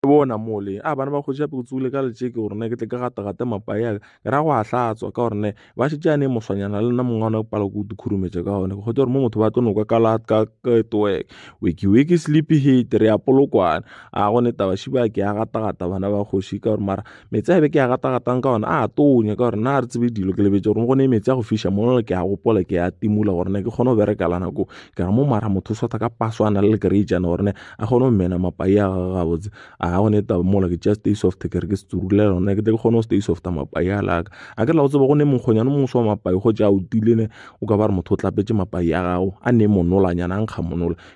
E bona mole a bana ba kgoši ape go tsogile ka letšeke gore ne ke tle ke gata-gate mapa ya ka ke ra go a hlatswa ka gore ne ba šetše a ne moswanyana le nna mongwe one pala ko di khurumetša ka gone ke kgotse gore mo motho ba tlo noka ka la ka toek wiki wiki sleepy head re ya polokwane a go ne taba šiba ke ya gata-gata bana ba kgoši ka gore mara Meetse a be ke a gata-gatang ka ona a tonya ka gore na re tsebe dilo ke lebetse gore go ne meetse a go fiša mono ke a gopola ke a timola gore ne ke kgone go bereka la nako ka mo mara motho o swata ka paso a na le lekereitšana gore ne a kgone go mena mapai a gage gabotse a ga gone taba mola ke just stay soft ke re ke setsurule lona ke tle ke kgone go stay soft mapai a laka a ke la go tseba go ne mokgonyane mongwe wa mapai go tša o tile ne o ka ba re motho o tlapetse mapai a gago a ne monolanyana a nkga monola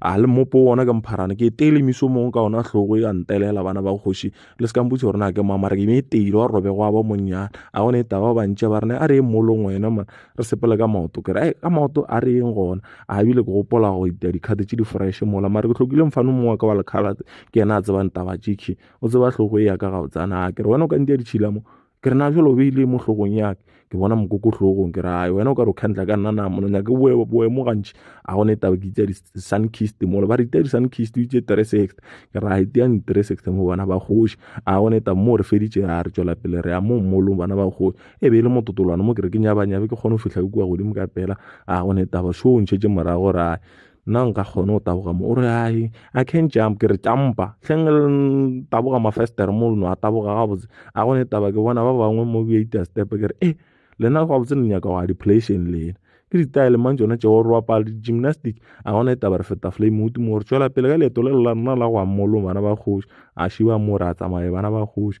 a le mmopo wona ke mpharane ke teile miso mongwe ka ona tlhogo ya ntelela bana ba kgoši le se kamputse gore na ke mamara ke meteile wa robe go aba monnyane a gone e taba ba ntše ba rena a re e molong wena man re sepele ka maoto ke re ka maoto a re eng gona a ebile ke gopola go itea dikhate tše di-fresh mola mare ke tlhokile mfane mongwe wa ka wa lekgalate ke yena a tsebang taba jiki o tseba tlhogo e ya ka gabotsana a ke re wena o ka ntia ditšhila mo ke re na jalo o beile mo hlogong yake ke bona mokoko hlogong ke rae wena o ka re o khandla ka nna na mono nyake boemo gantši a gone taba ke itsa di-sun kist molo ba re itea di-sun kist o itse tresect ke ra iteang ditresect mo bana ba kgoši a gone taba mo re feditše a re tšwela pele re ya mo mmolong bana ba kgoši e be e le mototolwana mo ke re ke nyabanyabe ke kgone go fihla ke kua godimo ka pela a gone taba šo o ntšhetse morago rae nna nka kgona go taboga mo o re ai i can jump ke re tšampa hleng le taboga mafestere mo leno a taboga gabotse a gone taba ke bona ba bangwe mo beita step ke re e eh, lena gabotse le nyaka go a deplation lena ke ditaele mang tsone tšeo re bapala di-gymnastic a gona e taba re feta flame o timo gore tswela pele ka leeto le lela nna la go ammolong bana ba kgoši a šiba mo re a tsamaye bana ba kgoši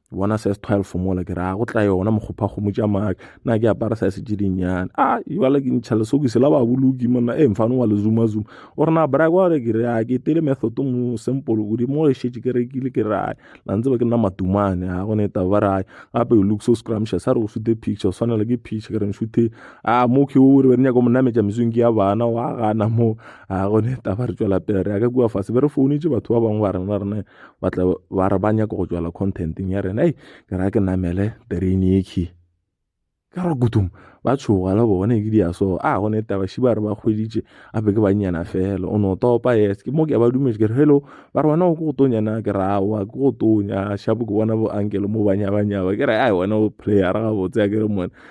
bona size 12 mola ke re a go tla yona mokgopha kgomo tša maaka na ke apara size tše dinnyane a jale ke ntšha lesoki se la ba boloki monna e mfane wa lezumazuma o re na brag wa re ke re a ke tele method mo simple o di mo e šetše ke rekile ke rae la ntse ba ke nna matumane a go ne ta ba rae gape o look so scrumptious a re o shute picture o swanela ke picture ke re nshute a mo ke o re be nyaka mo nametša mesong ke ya bana wa gana mo a go ne ta ba re tšwela pele re ya ka kua fase be re founetse batho ba bangwe ba rena rena ba tla ba re ba nyaka go tswela contenteng ya rena ei ke ra ke namele terene ekhi ka ra kutum ba tshoga le bone ke dia so a go ne taba shi ba re ba kgweditše a be ke bannyana fela o no topa yes ke mo ke ba dumetse ke re hello ba re wena o go tonya na ke ra wa ke go tonya shapo ke bona bo ankele mo banya banya ba ke re ai wena o player ga botse ya ke re mone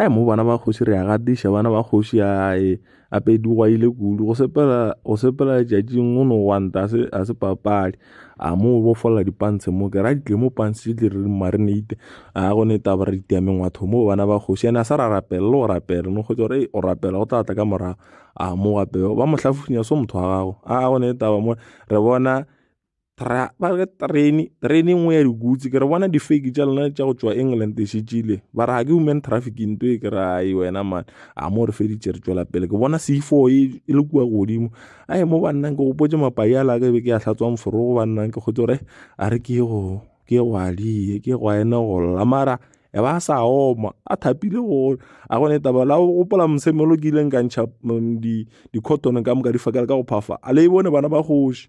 Ai mo bana ba kgoši re a gatiša bana ba kgoši ae gape di gwaile kudu go sepela go sepela letšatšing go no gwanta ga se ga se papadi. A mo bofolla di pants mo ke ra di tle mo pants di tle re di marinate a go ne taba re itia mengwaga batho mo bana ba kgoši ene a sa ra rapela le go rapela no kgotsa gore o rapela go tla tla ka morago. A mo gape ba mo hlafofinya so motho wa gago a go ne taba mo re bona. Tra, ba re train train engwe ya dikutsi ke re bona di-fake tša lona tša go tšwa england e šetšile ba re ga ke human trafficking to e ke re ai wena man a mo re feditše re tšwela pele ke bona c four e, e le kua godimo a e mo bannang ke gopotse mapai a laka e be ke ya hlatswang forogo bannang ke kgotse gore a re ke go ke go alie ke go ene go lla mara e ba sa oma a thapile gore a gone taba la o gopola mosemelo ke ileng ka ntšha mm, di-cotton ka moka di fakela ka go phafa a le e bone bana ba kgoši